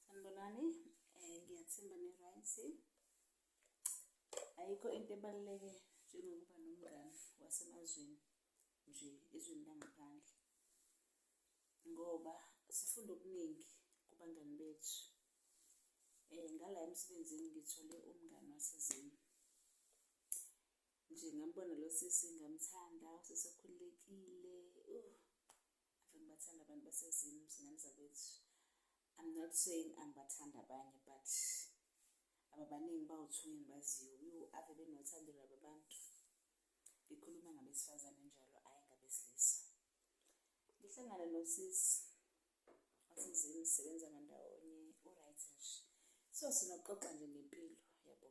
sanibonani um ngiyathemba ne-right ayikho into ebaluleke njengokuba nomngane wasemazweni nje ezweni langaphandle ngoba sifunda okuningi kubangani bethu um ngala emsebenzini ngithole umngane wasezini nje ngambona lo sisi ngamthanda usesekhululekile uh Ave ngibathanda abantu baseZim zingane zakwethu. I'm not saying angibathanda abanye but ababaningi bawu-two engibaziyo yo ave benothando laba abantu ngikhuluma ngabesifazane njalo ayi ngabesilisa ngihlangana nosisi wasezini sisebenza ngandawonye uright nje so sinokuxoxa nje ngempilo yabo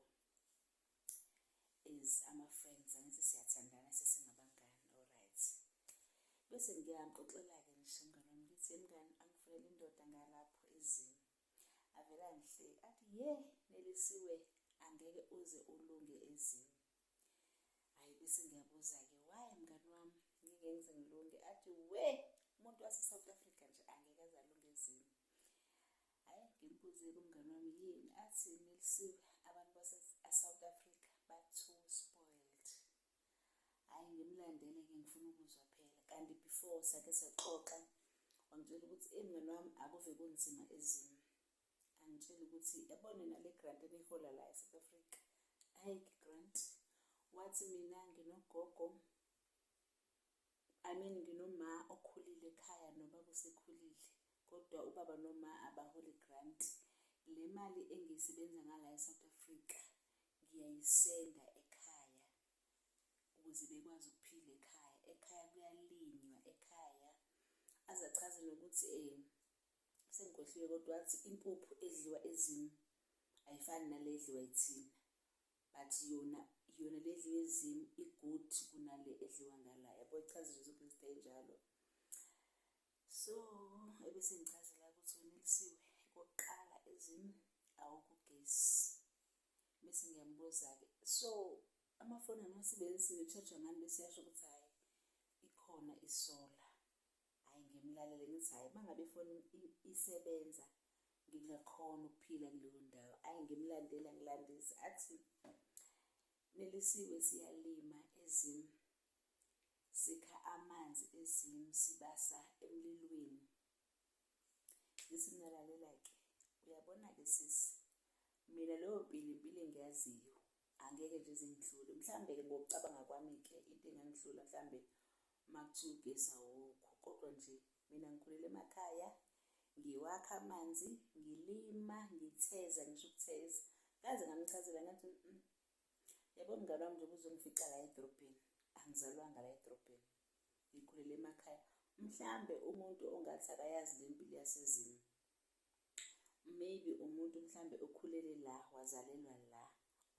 is ama friends angithi siyathandana sesingabangani alright bese ngiyamxoxela ke ngisho mngane wami ngithi mngane angifunele indoda ngalapho ezini avela ngihle athi ye nelisiwe angeke uze ulunge ezini hayi bese ngiyabuza ke why mngane wami ngeke ngize ngilunge athi we umuntu wase South Africa nje angeke azalunge ezini Hayi ngimbuze kumngane wami yini athi nilisiwe abantu base South Africa ba too spoiled. Hayi ngimlandele ke ngifuna ukuzwa phela kanti before sake saxoxa wangitshela ukuthi eh mngane wami akuve kunzima ezimo. Angitshela ukuthi yabona nale grant enihola la eSouth Africa. Hayi grant wathi mina nginogogo I mean ngiNoma okhulile ekhaya nobaba osekhulile kodwa ubaba noma abaholi grant le mali engiyisebenza ngala eSouth Africa ngiyayisenda ekhaya ukuze bekwazi ukuphila ekhaya ekhaya kuyalinywa ekhaya azachaze nokuthi eh sengikhohliwe kodwa wathi impuphu edliwa ezimi ayifani nale edliwa yithina but yona yona le edliwa ezimu i-good kunale edliwa ngala yabo ichaza nje zonke izinto ey'njalo so ebese ngichazela ukuthi wena elisiwe kokuqala ezimu awukugesi bese ngiyambuza-ke so amafoni angiwasebenzisi ne-charger ngani bese yasho ukuthi hhayi ikhona isola Hhayi ngimlalele ngithi hhayi uma ngabe ifoni isebenza ngingakhona ukuphila kuleyo ndawo ayi ngimlandela ngilandisa athi nelisiwe siyalima ezimu sikha amanzi ezimu sibasa emlilweni ngithi ngalalela-ke uyabona-ke sisi mina leyo mpilo impilo engiyaziyo Angeke nje zingidlule. Mhlambe ke ngokucabanga kwami ke into engangidlula mhlambe makuthiwa ugesi awukho kodwa nje mina ngikhulele emakhaya ngiwakha amanzi ngilima ngitheza ngisho ukutheza kaze ngamchazela ngathi mm, yabo mngane wami njengoba uzongifica la edrobheni angizalwanga la edrobheni ngikhulele emakhaya mhlambe umuntu ongathi akayazi le mpilo yasezimo maybe umuntu mhlambe okhulele la wazalelwa la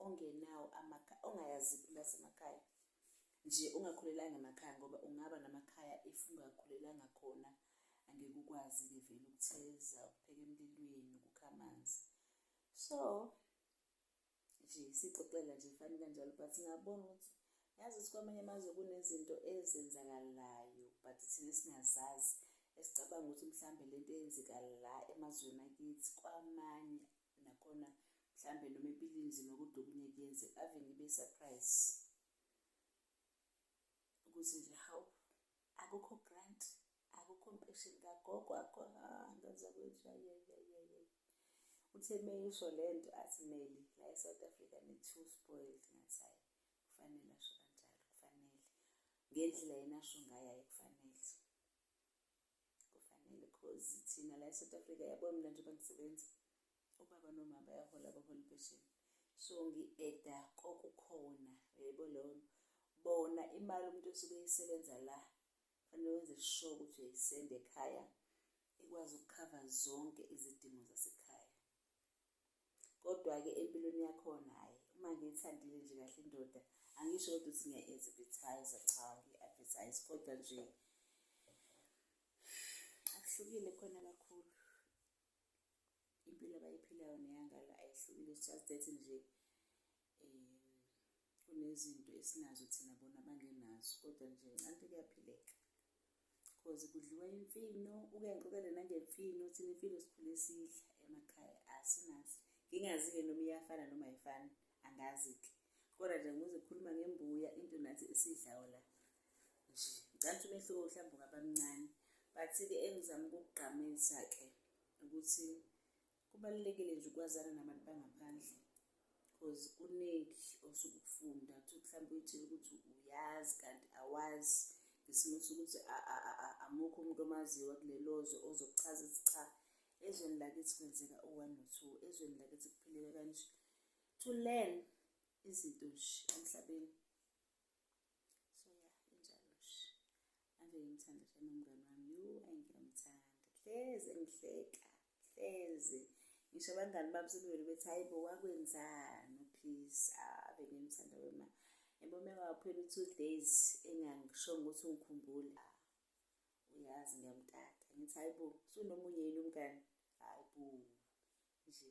ongenawo amakhaya ongayazi phela semakhaya nje ungakhulelanga emakhaya ngoba ungaba namakhaya if ungakhulelanga khona angeke ukwazi-ke vele ukutheza ukupheka emlilweni ukukha amanzi so nje sixoxela nje fani kanjalo but ngabona ukuthi yazi ukuthi kwamanye amazwe kunezinto ezenzakalayo but thina singazazi esicabanga ukuthi mhlambe lento eyenzeka la emazweni akithi kwamanye nakhona mhlambe noma ibilinzima kodwa okunye kuyenzeka ave ngibe surprise ukuthi nje how akukho grant akukho mpesheni kagogo akho ngaza kwethiwa yeyeyeye uthe meyisho le nto athi meli la e-south africa ne-two spoiled ngathi hayi kufanele asho kanjalo kufanele ngendlela yena asho ngayo ayi kufanele kufanele cause thina la e-south africa yabona mina njengoba ngisebenza ubaba noma bayahola abaholi impesheni so ngi-eda kokukhona yebo leyo bona imali umuntu osuke eyisebenza la kufanele wenze sure ukuthi uyayisenda ekhaya ikwazi ukukhava zonke izidingo zasekhaya kodwa-ke empilweni yakhona hhayi uma ngiyithandile nje kahle indoda angisho kodwa ukuthi ngiya-advertise cha ngi-advertise kodwa nje akuhlukile khona kakhulu impilo abayiphilayo neyangala ayihlukile it's just that nje um kunezinto esinazo thina bona bangenazo kodwa nje ncanti kuyaphileka cause kudliwa imfino ukenqokele nangemfino thina imfino sikhule sidla emakhaya asinazi ngingazi-ke noma iyafana noma ayifani angazi-ke kodwa nje ngize khuluma ngembuya into nathi esidlayo la nje ngicabanga umehluko mhlawumbe ungaba mncane but-ke engizama ukukugqamisa-ke ukuthi kubalulekile nje ukwazana nabantu bangaphandle because kuningi osuke ukufunda ukuthi mhlawumbe uyitshela ukuthi uyazi kanti awazi ngesimo sokuthi amukho umuntu omaziyo wakulelozwe ozokuchaza ukuthi cha ezweni lakithi kwenzeka u-one no-two ezweni lakithi kuphileka kanje to learn izinto nje emhlabeni so ya injalo shi ave ngimthanda shame umngane wami yu engiyamthanda hleze ngihleka hleze ngisho abangani bami sebevele bethi hayi bo wakwenzani uphisi ave ngimthanda wema yabo uma kwaphela u-two days engangishongo ukuthi ungikhumbule uyazi ngiyamtata ngithi hayi bo sunomunye yini umngani hayi bo nje